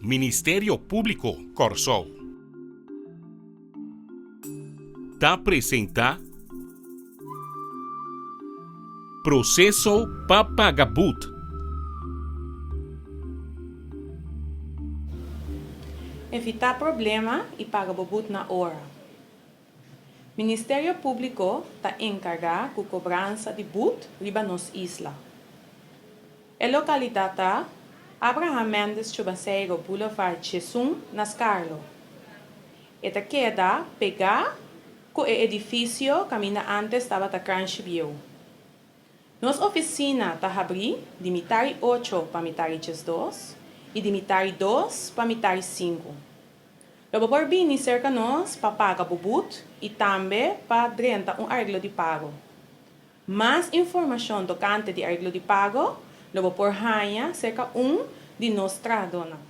Ministerio Públiko Kòrsou ta presentá Proseso pa Paga Bud. Evitá problema i paga bo bud na ora. Ministerio Públiko ta enkargá ku kobransa di but riba nos isla. E lokalidat ta, Abraham Mendes Chobaseiro Boulevard Chesun na Scarlo. E ta keda pegá ku e edifisio kaminda ántes tabata Kranjgebieuw. Nos ofisina ta habrí di mitari ocho pa mitari chesdos i di mitari dos pa mitari sinku. Lo bo por bini serka nos pa paga bo but i tambe pa drenta un arreglo di pago. Mas informashon tokante di arreglo di pago lo bo por haña serka un di nos trahadónan.